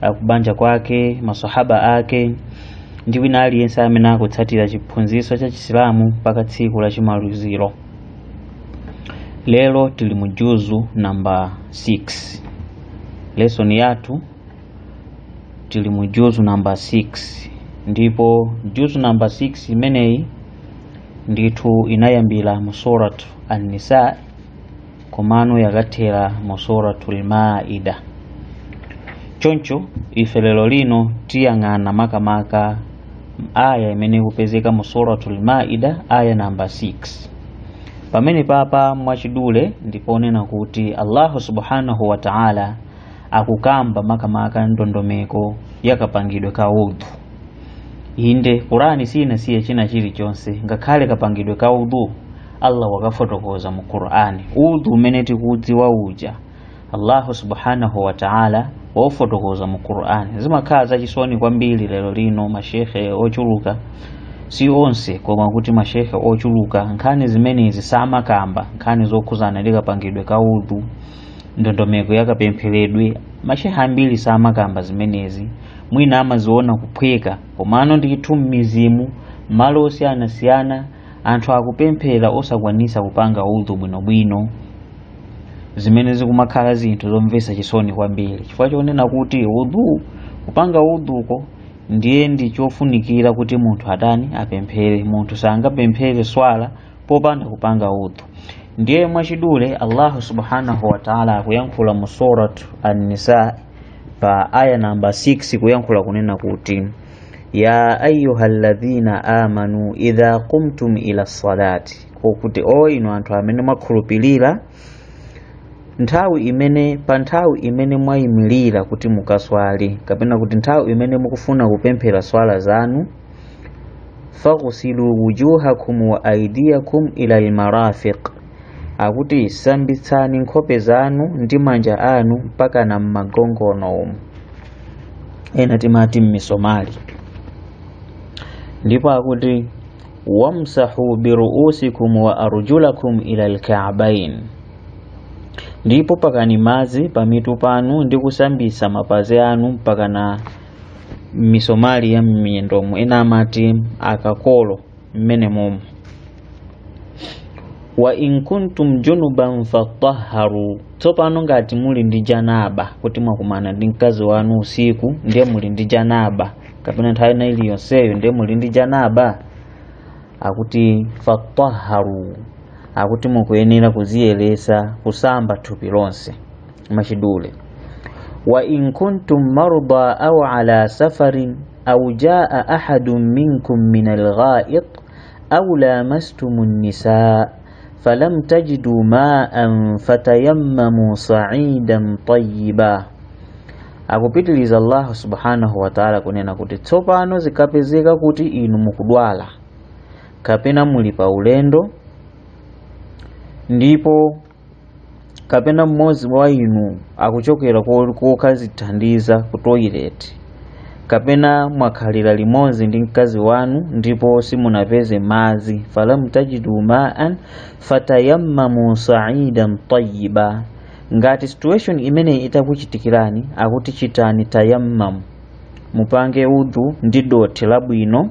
akubanja kwake masahaba ake ndi wina aliyense amene akutsatira chiphunzitso cha chisilamu mpaka tsiku la chimaliziro lero tili mu juzu namba 6 lesoni yathu tili mu juzu namba 6 ndipo juzu namba 6 imeneyi ndithu inayambira mu suratu an-nisa komano yakathera mu suratul maida choncho ife lero lino tiyang'ana makamaka aya imene ikupezeka mu suratul maida aya namba 6 pamene apapa mwachidule ndiponena kuti allahu subhanahu wa ta'ala akukamba makamaka ndondomeko yakapangidwe ka udhu inde qurani siinasiye china chilichonse ngakhale kapangidwe ka udhu allah wakafotokoza mu qur'ani udhu umene tikudziwa uja allahu subhanahu wa ta'ala wafotokoza mu qur'ani zimakhala zachisoni kwambiri lero lino mashekhe ochuluka si onse koma kuti mashekhe ochuluka nkhani zimenezi samakamba nkhani zokhuzana ndi kapangidwe ka udhu ndondomeko yakapempheredwe mashekhe ambiri samakamba zimenezi mwina amaziona kuphweka komano ndithu mmizimu malo osiyanasiyana anthu akupemphera osakwanisa kupanga udhu bwinobwino zimene zikumakhala zinthu zomvesa chisoni kwambiri chifukwa chonena kuti udhu kupanga udhuko ndiye ndi chofunikira kuti munthu atani apemphere munthu sangapemphere swala popanda kupanga udhu ndiye mwachidule allahu subhanahu wataala akuyankhula mu surat an-nisa pa aya namba 6 kuyankhula kunena kuti ya ayuha alladhina amanu idha qumtum ila salati kokuti o inu anthu amene mwakhulupirira nthawi imene pa nthawi imene mwayimirira kuti mukaswali kapena kuti nthawi imene mukufuna kupemphera swala zanu faghsilu wujuhakum wa aidiyakum ila almarafiq akuti sambitsani nkhope zanu ndi manja anu mpakana m'magongono umu ena timati m'misomali ndipo akuti wamsahu biruusikum wa arjulakum ila lkaabain ndipo pakani madzi pamitu panu ndi kusambitsa mapazi anu mpakana m'misomali ya m'miyendomo ena amati akakolo mmenemomo wa in kuntum junuban fatahharu tsopano ngati muli ndi janaba kuti mwakumana ndi mkazi wanu usiku ndiye muli ndi janaba kapena nthawi ina iliyonseyo ndiye muli ndi janaba akuti fatahharu akuti mukuyenera kudziyeretsa kusamba thupi lonse machidule wa in kuntum marda aw ala safarin aw jaa ahadun minkum min algha'it aw lamastumun nisaa falam tajidu ma'an fatayammamu sa'idan tayyiba akupitiliza Allah subhanahu wa ta'ala kunena kuti tsopano zikapezeka kuti inu mukudwala kapena muli pa ulendo ndipo kapena mmodzi wa inu akuchokera kokadzithandiza ku toilet kapena mwakhalira limodzi ndi mkazi wanu ndipo simunapeze madzi falam tajidu maan fatayammamu saidan tayiba ngati situation imeneyi itakuchitikirani akuti chitani tayammamu mupange udhu ndi dothi labwino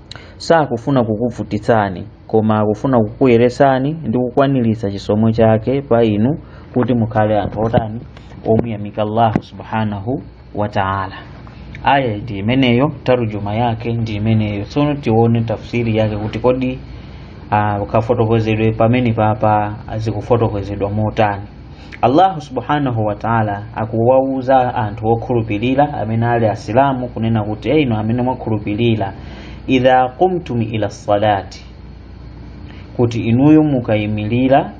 sakufuna kukuvutitsani koma akufuna kukuyeretsani ndi kukwaniritsa chisomo chake pa inu kuti mukhale anthu otani omuyamika allahu subhanahu wa taala aya ndi imeneyo tarujuma yake ndi imeneyo tsono tione tafsiri yake kuti kodi ah, kafotokozedwe pamene papa zikufotokozedwa motani allahu subhanahu wataala akuwauza anthu okhulupirira amene ali asilamu kunena kuti ee inu amene mwakhulupirira idha qumtum ila salati kuti inuyo mukayimirira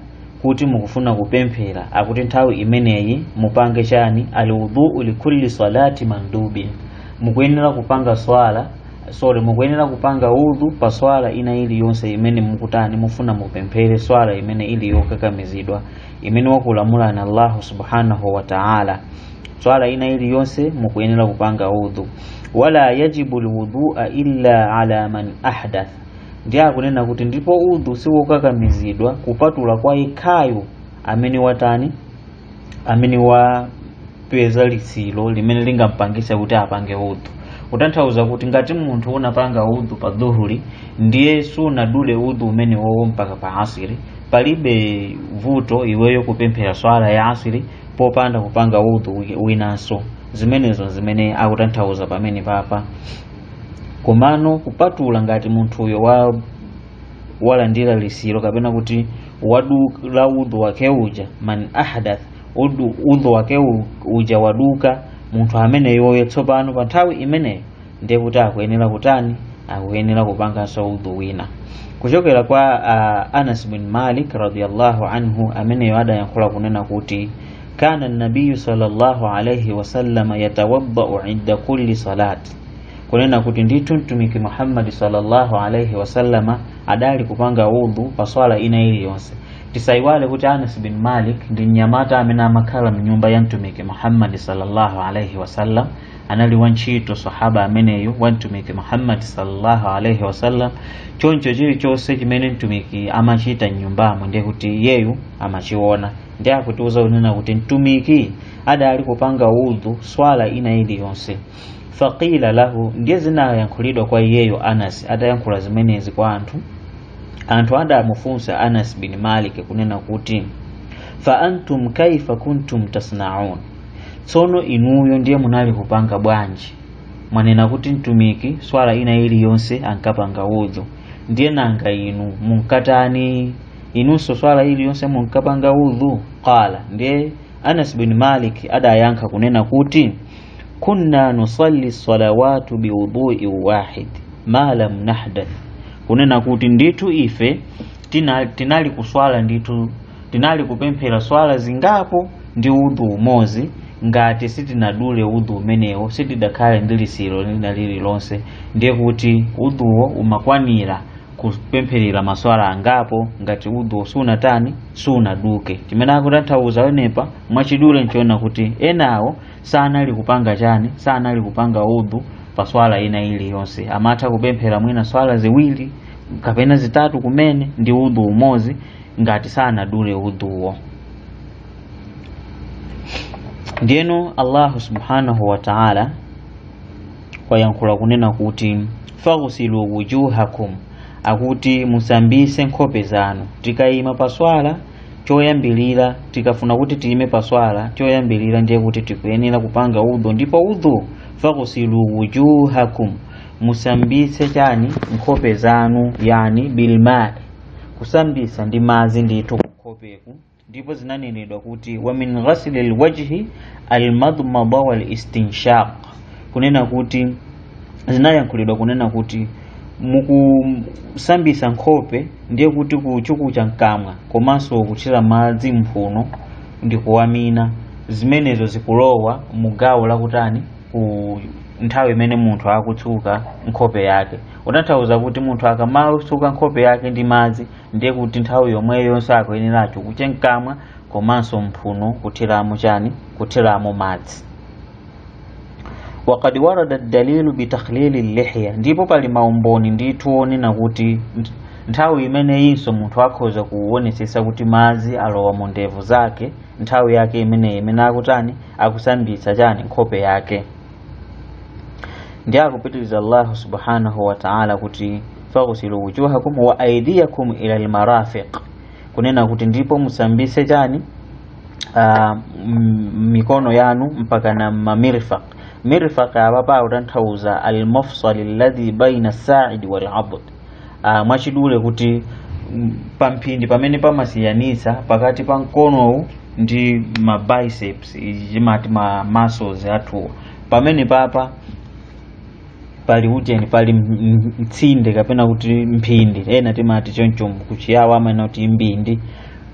kuti mukufuna kupemphera akuti nthawi imeneyi mupange chani alwudhuu likulli salati mandubin mukuyenera kupanga swala sorry mukuyenera kupanga udhu pa swala ina iliyonse imene mukutani mufuna mupemphere swala imene ili yokakamizidwa imene wakulamulani allahu subhanahu wa taala swala ina iliyonse mukuyenera kupanga udhu wala yajibu lwudhua illa ala man ahdath ndiye akunena kuti ndipo udhu siwokakamizidwa kupatula kwa yekhayo amene watani amene wapeza litsiro limene lingampangitse kuti apange udhu kutanthauza kuti ngati munthu unapanga udhu pa dhuhuli ndiye sunadule udhu umene wowo mpaka pa asiri palibe vuto iweyo kupemphera swala ya asiri popanda kupanga udhu winanso zimenezo zimene akutanthauza pamene papa komano kupatula ngati munthuyo walandira lisiro kapena kuti wadula udhu wake uja man ahdath udhu wake uja waduka munthu ameneyoyo tsopano pa nthawi imeneyo ndiye kuti akuyenera kutani akuyenera kupanganso udhu wina kuchokera kwa anas bin malik radiallahu anhu ameneyo adayankhula kunena kuti kana nabiyu sallallahu alaihi wasallama yatawaddau inda kulli salati kunena kuti ndithu mtumiki muhammadi sallallahu alaihi wasallama adali kupanga udhu pa swala ina iliyonse tisayiwale kuti anas bin malik ndi mnyamata amene amakhala mnyumba ya mtumiki muhammadi sallallahu alaihi wasallam anali wantchito sahaba ameneyu wa mtumiki muhammadi sallallahu alaihi wasallam choncho chilichonse chimene mtumiki amachita mnyumbamo ndiye kuti iyeyu amachiona ndiye akutiuza kunena kuti mtumiki adali kupanga udhu swala ina iliyonse faqila lahu ndiye zinayankhulidwa kwa iyeyo anas atayankhula zimenezi kwa anthu anthu adamufunsa anas bin malik kunena kuti fa antum kaifa kuntum tasnaun tsono inuyo ndiye munali kupanga bwanji mwanena kuti mtumiki swala ina iliyonse ankapanga udhu ndiye nanga inu munkatani inunso swala iliyonse munkapanga udhu qala ndiye anas bin malik adayankha kunena kuti kunna nusalli salawatu biwudui wahid ma lam nahdath kunena kuti ndithu ife tinali kuswala ndithu tinali kupemphera swala zingapo ndi udhu umozi ngati sitinadule udhu umenewo sitidakhale ndi lisiro lina lililonse ndiye kuti udhuwo umakwanira kupempherera maswala angapo ngati udhu siunatani siunaduke chimene akutanthauza wenepa mwachidule nchiona kuti enawo sanali kupanga chani sanali kupanga udhu pa swala ina iliyonse amatha kupemphera mwina swala ziwiri kapena zitatu kumene ndi udhu umodzi ngati sanadule udhuwo ndiyeno allahu subhanahu wa taala wayankhula kunena kuti faghsilu wujuhakum akuti musambise nkhope zanu tikayima pa swala choyambirira tikafuna kuti tiyime pa swala choyambirira ndiye kuti tikuyenera kupanga udhu ndipo udhu faghsilu wujuhakum musambise chani nkhope zanu yani bilmai kusambisa ndi madzi ndithu kunkhopeku ndipo zinanenedwa kuti wa min ghasli lwajhi almadmada walistinshaq kunena kuti zinayankhulidwa kunena kuti mukusambisa nkhope ndiye kuti kuchukucha mkamwa komanso kuthira madzi mphuno ndi kuwamina zimenezo zikulowa mu gawo lakutani ku nthawi imene munthu akutsuka nkhope yake kutanthauza kuti munthu akamatsuka nkhope yake ndi madzi ndiye kuti nthawi yomweyo yonse akuyenera achukuche mkamwa komanso mphuno kuthiramo chani kuthiramo madzi wakad warada dalilu bitakhlili lihya ndipo pali maumboni ndithu onena kuti nthawi imeneyinso munthu akhoza kuonetsetsa kuti madzi alowa mu ndevu zake nthawi yake imeneyi imene akutani akusambitsa chani nkhope yake ndiye akupitiriza allahu subhanahu wataala kuti faghsilu wujuhakum wa aidiyakum ila lmarafiq kunena kuti ndipo musambise chani ah, m- mikono yanu mpaka na mamirfaq mirfaq apapa akutanthauza almafsal alladhi baina saidi waladud ah, mwachidule kuti mm, pamphindi pamene pamasiyanitsa pakati pa mkonowu ndi ma biceps timati ma muscles athuwa pamenepapa pali ujeni pali m- m- mtsinde kapena kuti mphindi ena timati choncho kuchiyawo amanena kuti mbindi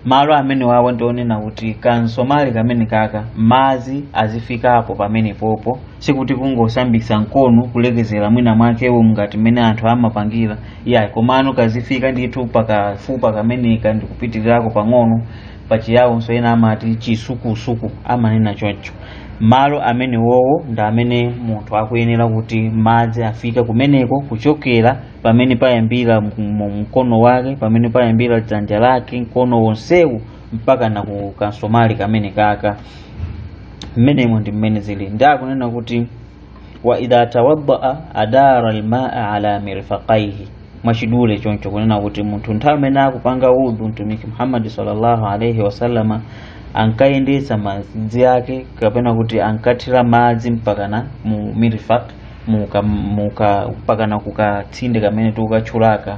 malo amenewawa ndi onena kuti kansomali kamenekaka madzi azifikapo pamenepopo sikuti kungosambisa mkono kulekezera mwina mwakewo ngati mmene anthu amapangira yayi komano azifika ndithu pakafupa kameneka ndikupitirako pang'ono pachiyawonso ena amati chisukusuku amanena choncho malo amenewowo ndi amene munthu akuyenera kuti madzi afike kumeneko kuchokera pamene payambira m- m- mkono wake pamene payambira dzanja lake mkono wonsewu mpaka na ku kansomali kamenekaka mmenemo ndi mmene zili ndiye akunena kuti wa idha tawaddaa adara almaa ala mirfaqaihi mwachidule choncho kunena kuti munthu nthawi imene akupanga udhu mtumiki muhammadi sallallahu alaihi wasallama ankayendetsa madzi ake kapena kuti ankathira madzi mpakana mu mirfaq muka muka mpakana kukatsinde kamene tikukatchulaka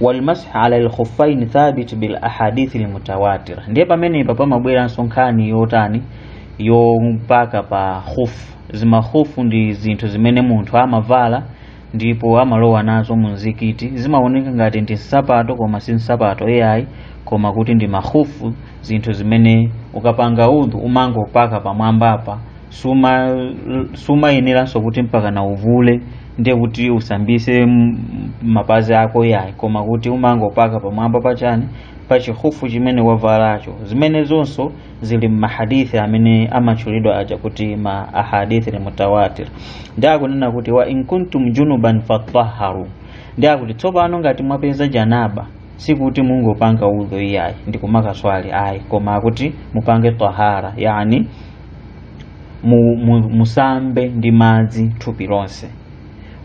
walmashu ala alkhuffain thabit bil ahadithi almutawatira ndiye pamenepa pamabweranso nkhani yotani yopaka pa khufu zimakhufu ndi zinthu zimene munthu amavala ndipo amalowa nazo mu mzikiti zimaoneka ngati ndi nsapato koma si nsapato iyayi koma kuti ndi makhufu zinthu zimene ukapanga udhu umangopaka pamwambapa suma- sumayeneranso kuti mpaka na uvule ndiye kuti usambise m- mapazi ako yayi koma kuti umangopaka pamwamba pachani pa chikhufu chimene wavalacho zimene zonso zili mmahadithi amene amatchulidwa aja kuti ma ahadithil mutawatir ndi akunena kuti wa in kuntum junuban fatahharu ndi akuti tsopano ngati mwapeza janaba sikuti mungopanga udhu iyayi ndi kumakaswali ayi koma kuti mupange tahara yani mu, mu, musambe ndi madzi thupi lonse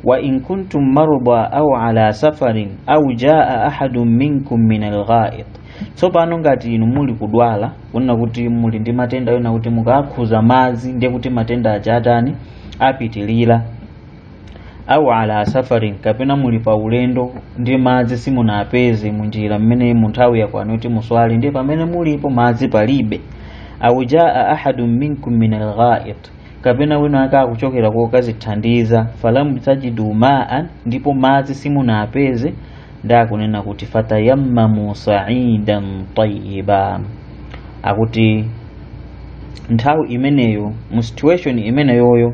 wa in kuntum marda au ala safarin au jaa ahadun minkum min alghaid tsopano ngati inu muli kudwala kunena kuti muli ndi matenda onena kuti mukakhuza madzi ndiye kuti matenda aja atani apitilira au ala safarin kapena muli pa ulendo ndi madzi simunapeze munjira mmene munthawi yakwana kuti muswali ndiye pamene mulipo madzi palibe au jaa ahadun minkum min alghait kapena wina ake akuchokera kokazithandiza falam tajidu maan ndipo madzi simunapeze ndi akunena kuti fatayammamu saidan tayiba akuti nthawi imeneyo mu situation imeneyoyo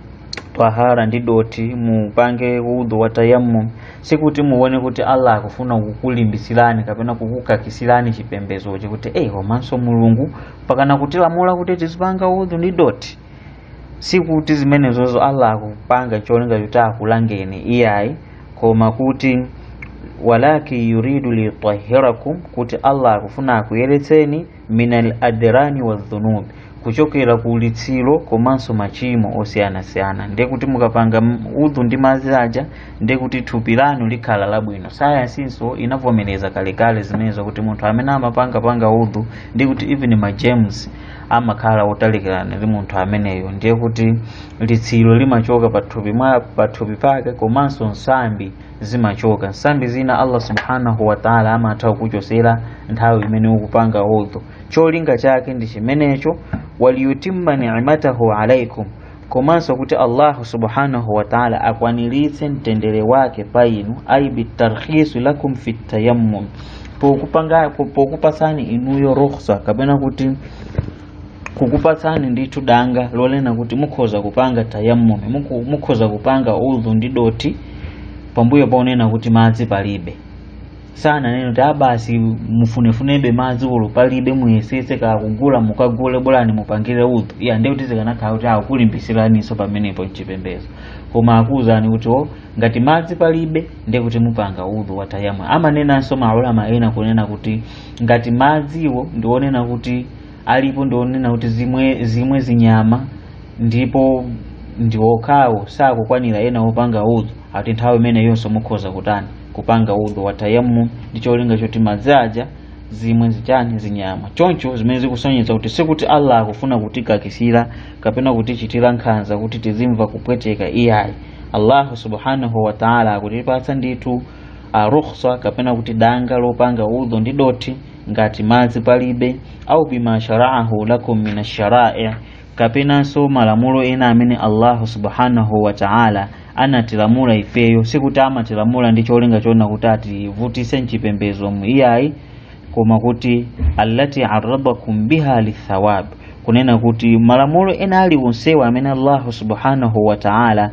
tahara ndi doti mupange udhu wa tayammum sikuti muone kuti allah akufuna kukulimbitsirani kapena kukukakisirani chipembedzochi kuti eyi komanso mulungu pakana kutilamula kuti tizipanga udhu ndi doti sikuti zimenezozo allah akupanga cholinga kuti akulangeni iyayi koma kuti walakin yuridu liyutahhirakum kuti allah akufuna akuyeretseni minal adrani wa dhunub kuchokera ku litsiro komanso machimo osiyanasiyana ndiye kuti mukapanga m- udhu ndi madzi aja ndiye kuti thupi lanu likhala labwino sayansinso inavomereza kalekale zimenezo kuti munthu amene amapanga panga udhu ndiye kuti even ma germs amakhala otalikirana ndi munthu ameneyo ndiye kuti litsiro limachoka pathupi mwa pathupi pake komanso nsambi zimachoka nsambi zina allah subhanahu wataala amatha kukuchotsera nthawi imene ukupanga udhu cholinga chake ndi chimenecho waliyutimma nimatahu alaikum komanso kuti allahu subhanahu wataala akwaniritse mtendere wake pa inu ai bitarkhisi lakum fi tayammum pokupanga pokupasani inuyo rukhsa kapena kuti kukupatsani ndithu danga lonena kuti mukhoza kupanga tayammumi muku- mukhoza kupanga udhu ndi dothi pambuyo ponena kuti madzi palibe sananena kuti abasi mufunefunebe madzi olo palibe muyesetse kukagula mukagule bolani mupangire udhu ya ndiye kuti zikanakhala kuti akulimbitsiraninso pamenepo mchipembedzo koma akuwuzani kuti o ngati madzi palibe ndiye kuti mupanga udhu wa tayammum amanenanso maulama ena kunena kuti ngati madziwo ndi onena kuti alipo ndi onena kuti zimwe zinyama ndipo ndi okhawo sakukwanira ena opanga udhu ati nthawi imeneyonso mukhoza kutani kupanga udhu wa tayammum ndi cholinga choti madzi aja zimwe zitani zinyama choncho zimene zikusonyeza kuti sikuti allah akufuna kutikakisira kapena kutichitira nkhanza kuti tizimva kupweteka iyayi allahu subhanahu wataala akutipatsa ndithu rukhsa kapena kuti danga lopanga udhu ndi dothi ngati madzi palibe au bima sharaahu lakum min asharai kapenanso malamulo ena amene allahu subhanahu wa taala anatilamula ifeyo sikuti amatilamula ndi cholinga choona kuti ativutise mchipembezo iyayi koma kuti allati arrabakum biha lithawab kunena kuti malamulo ena aliwonsewa amene allahu subhanahu wa taala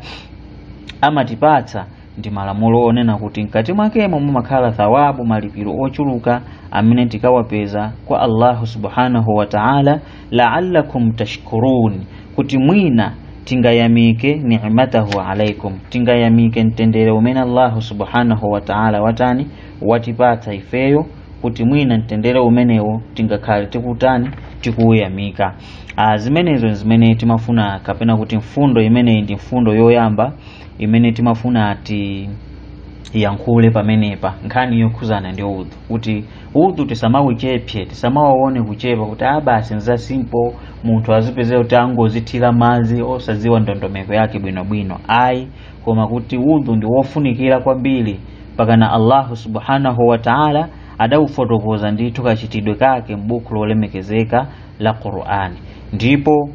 amatipatsa ndi malamulo onena kuti mkati mwakemo mumakhala thawabu malipiro ochuluka amene tikawapeza kwa allahu subhanahu wa taala laalakum tashkurun kuti mwina tingayamike nimatahu alaikum tingayamike mtendere umene allahu subhanahu wa taala watani watipatsa ifeyo kuti mwina mtendere umenewo tingakhale tikutani tikuuyamika Ah, zimenezo zimene timafuna kapena kuti mfundo imeneyi ndi mfundo yoyamba imene timafuna tiyankhule pamenepa nkhani yokhuzana ndi udhu kuti udhu tisamauchepse tisamauone kuchepa kuti ah basi nza simple munthu azipeza kuti angozithira madzi osadziwa ndondomeko yake bwinobwino ayi koma kuti udhu ndi wofunikira kwambiri pakana allahu subhanahu wa taala adaufotokoza ndithu kachitidwe kake m'buku lolemekezeka la qur'ani ndipo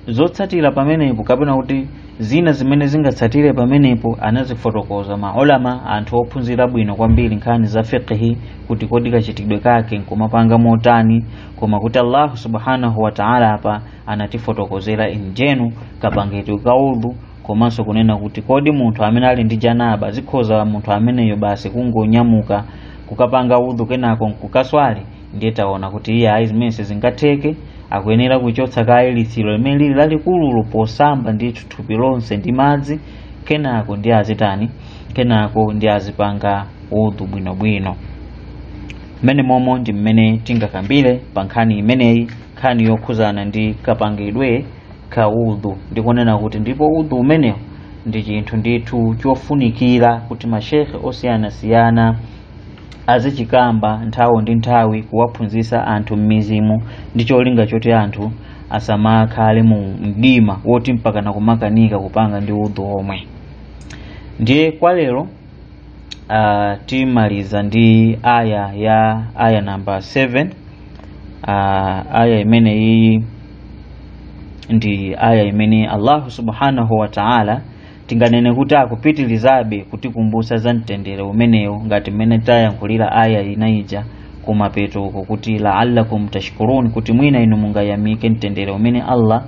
zotsatira pamenepo kapena kuti zina zimene zingatsatire pamenepo anazifotokoza maulama anthu ophunzira bwino kwambiri nkhani za fiqhi kuti kodi kachitidwe kake nkumapanga motani koma kuti allahu subhanahu wataala apa anatifotokozera injenu kapangidwe ka udhu komanso kunena kuti kodi munthu amene ali ndi janaba zikhoza munthu ameneyo basi kungonyamuka kukapanga udhu kenako nkukaswali ndiye taona kuti iyayi zimenezo sizingatheke akuyenera kuchotsa kaye litsiro limene lili lalikulu posamba ndithu thupi lonse ndi madzi kenako ndi azitani kenako ndi azipanga udhu bwinobwino mmene momo ndi mmene tingakambire pa nkhani imeneyi nkhani yokhuzana ndi kapangidwe ka udhu ndikunena kuti ndipo udhu umenewo ndi chinthu ndithu chofunikira kuti mashekhe osiyanasiyana azichikamba nthawi ndi nthawi kuwaphunzitsa anthu m'mizikiti ndi cholinga choti anthu asamakhale mu mdima woti mpaka nakumakanika kupanga ndi udhu omwe ndiye kwa lero uh, timaliza ndi aya ya aya namba 7 uh, aya imene iyi ndi aya imene allahu subhanahu wa taala tinganene kuti akupitirizabe kutikumbutsa za mtendere umenewo ngati mmene tayankhulira aya ina ija kumapeto uko kuti laallakum tashkurun kuti mwina inu mungayamike mtendere umene allah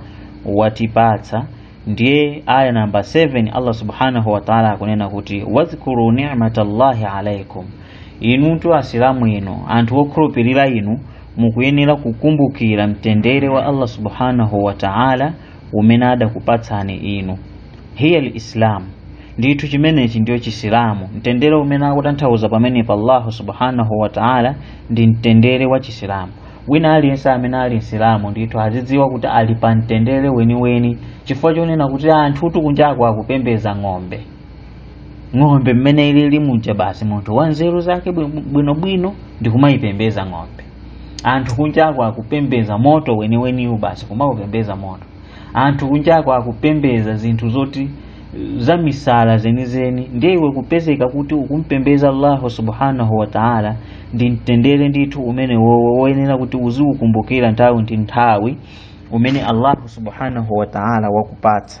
watipatsa ndiye aya namba 7 allah subhanahu wa taala akunena kuti wadhkuru ni'mata llahi alaikum inutu asilamu inu anthu okhulupirira inu mukuyenera kukumbukira mtendere wa allah subhanahu wa taala umene adakupatsani inu hiya lislam ndithu chimenechi ndiyo chisilamu mtendere umene akutanthauza pamenepa allahu subhanahu wataala ndi mtendere wa chisilamu wina aliyense amene ali msilamu ndithu azidziwa kuti ali pa mtendere weniweni chifukwa chonena kuti anthutu kunjako akupembeza ng'ombe ng'ombe mmene ilili muja basi munthu wanzeru zake bwi- bwinobwino ndi kumayipembeza ng'ombe anthu kunjako akupembeza moto weniweniwu basi kumaupembeza moto anthu kunjako akupembeza zinthu zoti za misala zenizeni ndiye iwe kupezeka kuti ukumpembeza allahu subhanahu wa taala ndi mtendere ndithu umene wowo woyenera kuti uziukumbukira nthawi ndi nthawi umene allahu subhanahu wa taala wakupatsa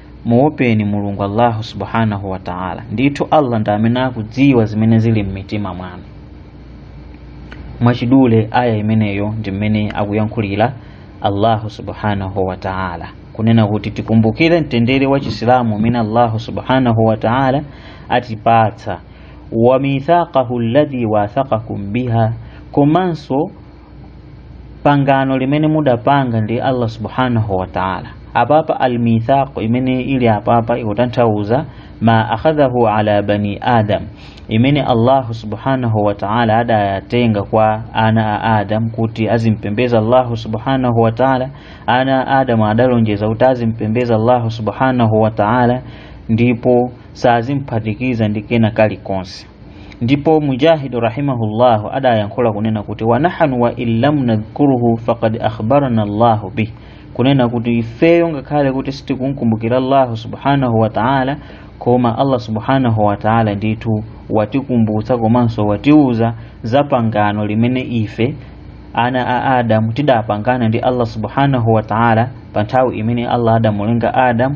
muopeni mulungu allahu subhanahu wa taala ndithu allah ndi amene akudziwa zimene zili m'mitima mwanu mwachidule aya imeneyo ndi mmene akuyankhulira allahu subhanahu wa taala kunena kuti tikumbukire mtendere wa chisilamu umene allahu subhanahu wa taala atipatsa wa mithaqahu alladhi wathaqakum biha komanso pangano limene mudapanga ndi allah subhanahu wa taala apapa almithaqu imene ili apapa ikutanthauza ma akhadhahu ala bani adam imene allahu subhanahu wa taala adayatenga kwa ana a adamu kuti azimpembeza allahu subhanahu wa taala ana a adamu adalonjeza kuti azimpembeza allahu subhanahu wa taala ndipo sazimphatikiza ndi kena kalikonse ndipo mujahidu rahimahu llahu adayankhula kunena kuti wa nahnu wa in lam nadhkurhu faqad akhbarana llahu bih kunena kuti ifeyo ngakhale kuti sitikumkumbukira allahu subhanahu wa taala koma allah subhanahu wa taala ndithu watikumbutsa komanso watiuza za pangano limene ife ana a adamu tidapangana ndi allah subhanahu wa taala pa nthawi imene allah adamulenga adamu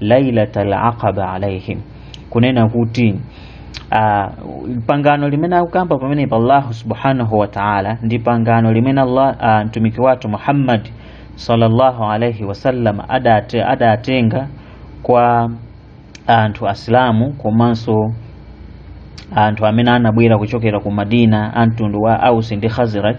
lailatal aqaba alaihim kunena kuti uh, pangano limene akukamba pamenepa allahu subhanahu wa taala ndi pangano limene allah uh, mtumiki wathu muhammad sallallahu alaihi wasallam ada, adatenga kwa anthu asilamu komanso anthu amene anabwera kuchokera ku madina a mtundu wa ausi ndi khaziraj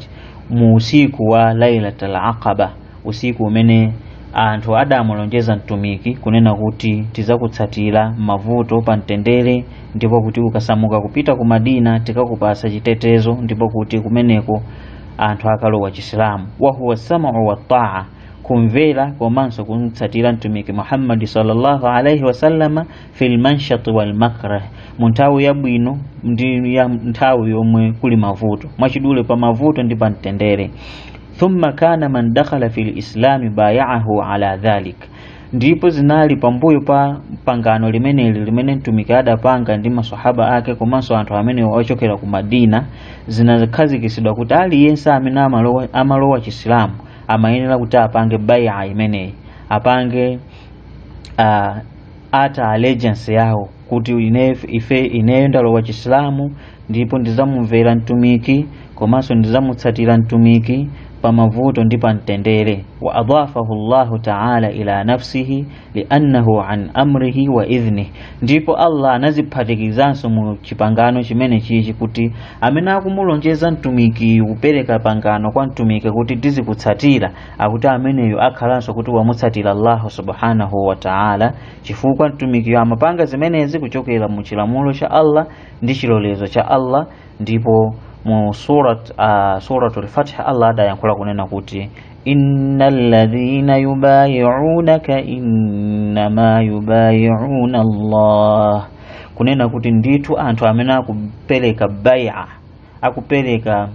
mu usiku wa lailatal aqaba usiku umene anthu adamulonjeza mtumiki kunena kuti tizakutsatira m'mavuto pa mtendere ndipo kuti ukasamuka kupita ku madina tikakupatsa chitetezo ndipo kuti kumeneko anthu akalowa chisilamu wahuwa sam'u wa taa kumvera komanso kumtsatira mtumiki muhammadi sallallahu alaihi wasallama fil manshati wal makrah mu nthawi yabwino ndi ya nthawi yomwe kuli mavuto mwachidule pa mavuto ndi pa mtendere thumma kana man dakhala fil islami baya'ahu ala dhalik ndipo zinali pambuyo pa pangano limeneli limene mtumiki adapanga ndi masahaba ake komanso anthu amenewo ochokera ku madina zinakhazikitsidwa kuti aliyense amene amalowa, amalowa chisilamu amayenera kuti apange bai'a imeneyi apange uh, oath of allegiance yawo kuti ine ife ineyo ndalowa chisilamu ndipo ndizamumvera mtumiki komanso ndizamutsatira mtumiki pa mavuto ndi pa mtendere wa adafahu llahu taala ila nafsihi liannahu an amrihi wa idhnih ndipo allah anadziphatikizanso mu chipangano chimenechichi kuti amene akumulonjeza mtumiki kupereka pangano kwa mtumiki kuti tizikutsatira akuti ameneyo akhalanso kuti wamutsatira allahu subhanahu wa taala chifukwa mtumikiyo amapanga zimenezi kuchokera mu chilamulo cha Allah ndi chilolezo cha Allah ndipo mu surat uh, suratul fath Allah adayankhula kunena kuti innal ladhina yubayi'unaka innama yubayi'una Allah kunena kuti ndithu anthu amene akupereka bai'a akupereka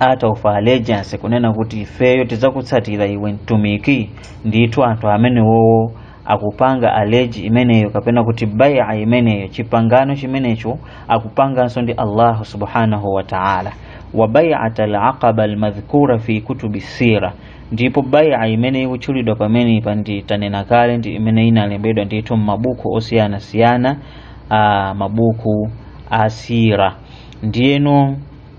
oath of allegiance kunena kuti ifeyo tidzakutsatira iwe mtumiki ndithu anthu amenewowo akupanga aleji imeneyo kapena kuti bai'a imeneyo chipangano chimenecho akupanganso ndi allahu subhanahu wa ta'ala wa bai'at alaqaba almadhkura fi kutubi sira ndipo bai'a imene ikutchulidwa pamenepa monga tanena kale ndi imene inalembedwa ndithu m'mabuku osiyanasiyana ah, mabuku a sira ndiyeno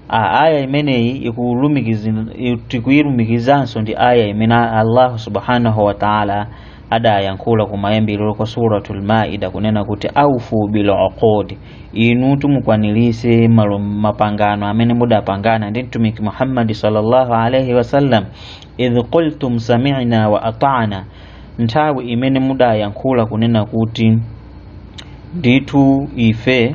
a aya imeneyi ikulumikizin- i- tikuyilumikizanso ndi aya imene allahu subhanahu wa taala adayankhula kumayambiriro kwa suratul maida kunena kuti aufu bil uqud inu tumukwanirise malo- mapangano amene mudapangana ndi mtumiki muhammadi sallallahu alaihi wasallam idh qultum sami'na wa ata'na nthawi imene mudayankhula kunena kuti ndithu ife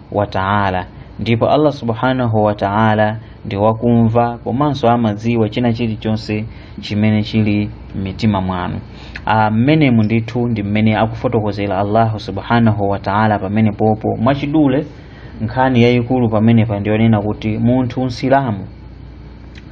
wa taala ndipo allah subhanahu wa taala ndi wakumva komanso amadziwa china chilichonse chimene chili m'mitima mwanu Ah, mmenemu ndithu ndi mmene akufotokozera allahu subhanahu wa taala pamenepopo mwachidule nkhani yayikulu pamenepa ndiyonena kuti munthu msilamu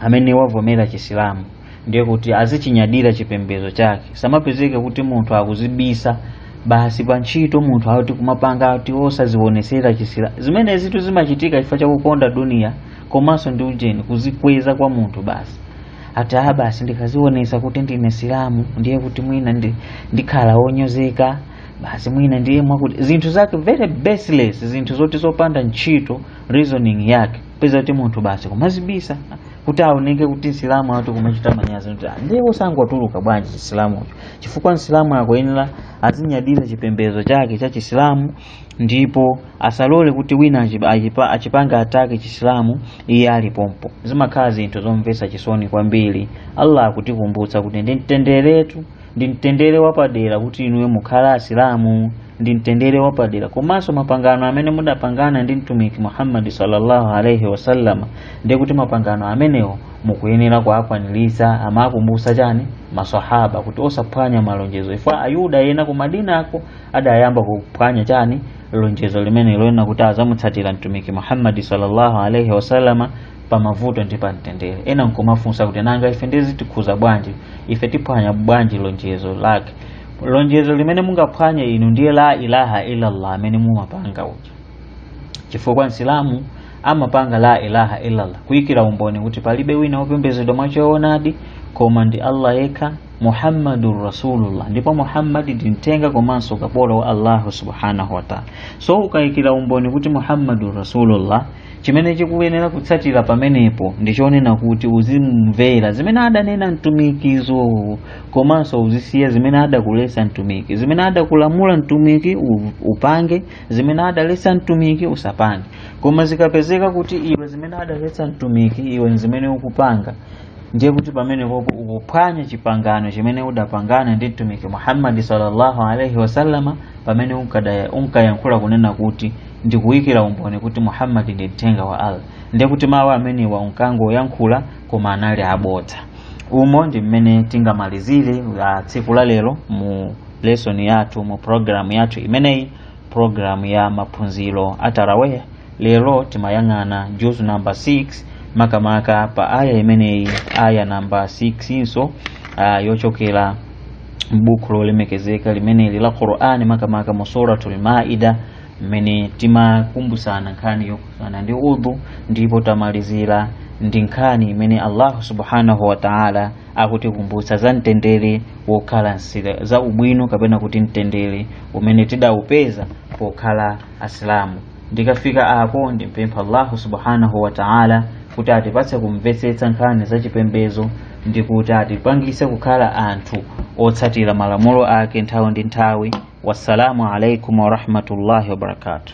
amene wavomera chisilamu ndiye kuti azichinyadira chipembedzo chake asamapezeke kuti munthu akuzibisa basi pa ntchito munthu ati kumapanga ati osazionesera chisilamu zimenezitu zimachitika chifukwa chakukonda duniya komanso ndi ujeni kuzikweza kwa munthu basi ati ah basi ndikazionesa kuti ndine msilamu ndiye kuti mwina ndi, ndikhala wonyozeka basi mwina ndiye mwakuti zinthu zake very baseless zinthu zoti zopanda ntchito reasoning yake peza kuti munthu basi kumazibisa kuti asaoneke kuti msilamu ati kumachita manyazi kuti "Ah, ndiye osangotuluka bwanji chisilamucho chifukwa msilamu akuyenera azinyadira chipembedzo chake cha chisilamu ndipo asalole kuti wina achi- achipa- achipanga attack chisilamu iye ali pompo zimakhala zinthu zomvetsa chisoni kwambiri allah akutikumbutsa kuti ndi mtenderetu ndi mtendere wapadera kuti inuyo mukhala asilamu ndi mtendere wapadera komanso mapangano amene mudapangana ndi mtumiki muhammadi sallallahu alaihi wasallama ndiye kuti mapangano amenewo mukuyenera kuakwaniritsa amakumbutsa chani masahaba kuti osaphwanya malonjezo chifukwa ayuda ena ku madinako adayamba kuphwanya chani lonjezo limene lonena kuti azamutsatira mtumiki muhammadi sallallahu alaihi wasallama pa mavuto ndi pa mtendere ena nkumafunsa kuti nanga ife ndiye zitikhuza bwanji ife tiphwanya bwanji lonjezo lake lonjezo limene mungaphwanye inu ndi la ilaha illallah amene mumapanga uja chifukwa msilamu amapanga la ilaha illallah kuyikira umboni kuti palibe wina wopembedzedwa mwachoonadi koma ndi allah yekha muhammadun rasulullah ndipo muhammadi ndi mtenga komanso kapolo wa allahu subhanahu wataala so ukayikira umboni kuti muhammadun rasulullah chimene chikuyenera kutsatira pamenepo ndi chonena kuti uzimvera zimene adanena mtumikizo komanso uzisiya zimene adakulesa mtumiki zimene adakulamula mtumiki u- upange zimene adalesa mtumiki usapange koma zikapezeka kuti iwe zimene adalesa mtumiki iwe ndi zimene ukupanga ndiye kuti pamenepopo ukuphwanya chipangano chimene udapangana ndi mtumiki muhammadi sallallahu alaihi wasallama pamene unkadaya- unkayankhula kunena kuti ndikuyikira umboni kuti muhammadi ndi mthenga wa allah ndiye kuti mawu amenewa unkangoyankhula koma anali abodza umo ndi mmene tingamalizire tsiku la lero mu lesson yathu mu programu yathu imeneyi programu ya maphunziro a taraweh lero timayang'ana juzu namba 6 makamaka pa aya imeneyi aya namba 6 inso ah, yochokera m'buku lolemekezeka limeneli la qur'ani makamaka mu suratul maida mmene timakumbusana nkhani yokhudzana ndi udhu ndipo tamalizira ndi nkhani imene allahu subhanahu wa taala akutikumbutsa za mtendere wokhala za ubwino kapena kuti mtendere umene tidawupeza pokhala asilamu ndikafika apo ndimpempha allahu subhanahu wa taala kuti atipatse kumvetsetsa nkhani za chipembezo ndi kuti atipangise kukhala anthu otsatira malamulo ake nthawi ndi nthawi Wassalamu alaikum warahmatullahi wabarakatuh.